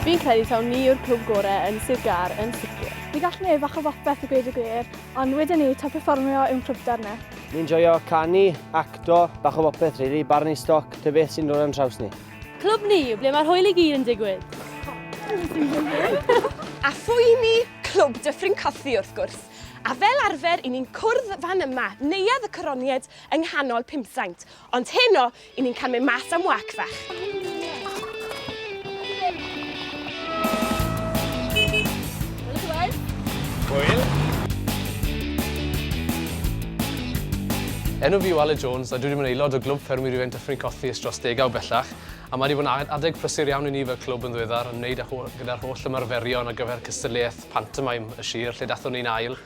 Fi'n credu taw ni yw'r clwb gore yn Sir Gâr yn sicr. Ni gall neb fach o fopeth a gweud y gwir, ond wedyn ni, taw perfformio yw'n clwbdar ni. Ni'n joio canu, acto, bach o fopeth rili, barnu stoc, ta beth sy'n dod o'n traws ni. Clwb ni yw ble mae'r hwyl i gyd yn digwydd! A phwy 'y ni? Clwb Dyffryn Cothi wrth gwrs! A fel arfer i ni'n cwrdd fan yma, Neuadd y Coronied yng nghanol Pumsaint, ond heno i ni'n cael mynd mas am wâc fach. Hwyl! Enw fi yw Ale Jones a dwi wedi bod yn aelod o Glwb Ffermwyr Ifaint a Ffryncothi ers dros degawd bellach a mae wedi bod yn adeg prysur iawn i ni fel clwb yn ddiweddar yn wneud gyda'r holl ymarferion ar gyfer cystadleuaeth pantomaim y sir lle daethon ni'n ail,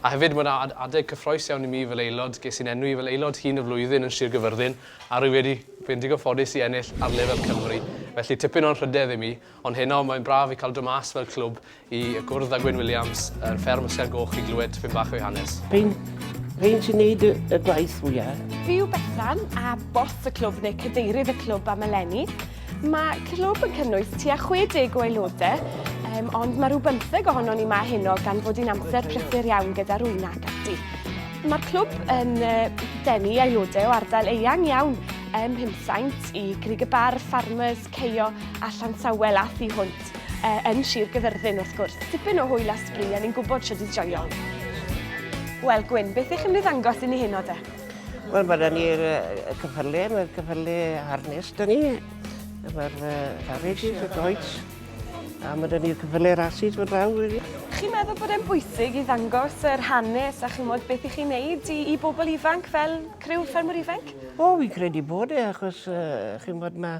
a hefyd mae yna adeg cyffroes iawn i mi fel aelod, ges i'n enwi fel aelod hŷn y flwyddyn yn Sir Gyfyrddin a rwy wedi fy yn digon ffodus i ennill ar lefel Cymru, felly tipyn o'n rhydedd i mi, ond heno mae'n braf i cael dod mas fel clwb i gwrdd â Gwyn Williams yn Fferm Ysgafn Goch i glywed tipyn bach o'i hanes. P'un, p'un sy'n neud y, y gwaith fwyaf? Fi yw Bethan, a boss y clwb neu cadeirydd y clwb am eleni. Mae clwb yn cynnwys tua 60 o aelodau, um, ond mae rhyw bymtheg ohono ni mae heno gan fod hi'n amser prysur iawn gyda rwy'n ac ati. Mae'r clwb yn uh, denu aelodau o ardal eang iawn ym Mhimsaint i Grig y Bar, Farmers, Ceio a Llansawel a thu hwnt uh, yn Sir Gyfyrddin wrth gwrs. Tipyn o hwyl a sbri a ni'n gwybod sydd i joio. Wel Gwyn, beth ych chi'n mynd i ddangos i ni heno de? Wel, mae yna ni'r cyffyrle, mae'r cyffyrle harness da ni, mae'r carriages, y goets, a mae yna ni'r cyffyrle rasis fod draw wedi. Chi'n meddwl bod e'n bwysig i ddangos yr hanes a chi'n modd beth i chi'n neud i, i bobl ifanc fel criw ffermwr ifanc? O, fi'n credu bod e, achos uh, chi'n bod mae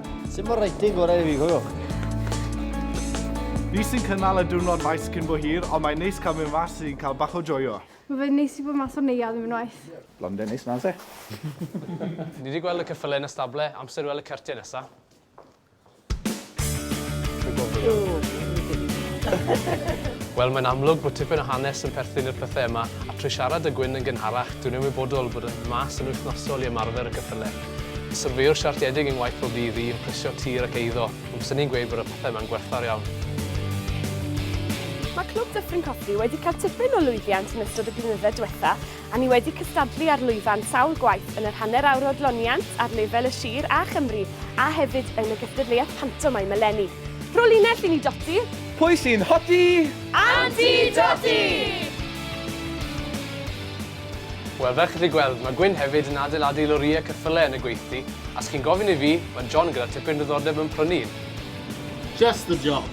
Sut mae'r writing gorau i fi, cofiwch? Ni sy'n cynnal y diwrnod maes cyn bo hir, ond mae'n neis cael mynd mas sy'n cael bach o joio. Mae fe'n neis i bod mas o'r neuadd am unwaith. Blonde neis mas e. Ni wedi gweld y ceffylau yn y stable, amser i weld y cyrtiau nesa. Wel, mae'n amlwg bod tipyn o hanes yn perthyn i'r pethau yma, a trwy siarad â Gwyn yn gynharach, dwi'n ymwybodol bod yn fy mas yn wythnosol i ymarfer y ceffylau. Syrfeiwr siartiedig yng ngwaith bob dydd i impresio tir ac eiddo, ond fyswn i'n gweud bod y pethau yma'n gwerthfawr iawn. Mae Clwb Dyffryn Cothi wedi cael tipyn o lwyddiant yn ystod y blynydde diwetha' a ni wedi cystadlu ar lwyfan sawl gwaith yn yr hanner awr o adloniant ar lefel y sir a Chymru a hefyd yn y gystadleuaeth pantomaim eleni. Rho linell i ni Dodi! Pwy sy'n hoti? Anti Dodi! Wel, fel chi'n gallu gweld, mae Gwyn hefyd yn adeiladu lorïau ceffylau yn y gweithdy, a os chi'n gofyn i fi, mae John gyda tipyn diddordeb yn prynu un. Just the job!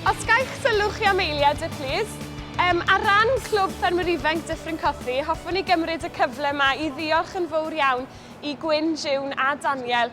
Os gai'ch sylw chi am eiliad de plîs? Yym, ar ran Clwb Ffermwyr Ifainc Dyffryn Cothi, hoffwn i gymryd y cyfle yma i ddiolch yn fowr iawn i Gwyn, June a Daniel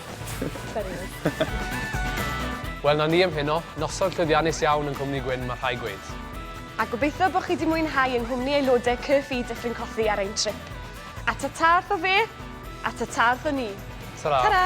Wel, 'na ni am heno. Noson llwyddiannus iawn yng nghwmni Gwyn, mae rhai gweud. A gobeithio bod chi 'di mwynhau yng nghwmni aelodau CUFI Dyffryn Cothi ar ein trip. A ta-ta wrtho fe, a ta-ta wrtho ni. Tara! Tara!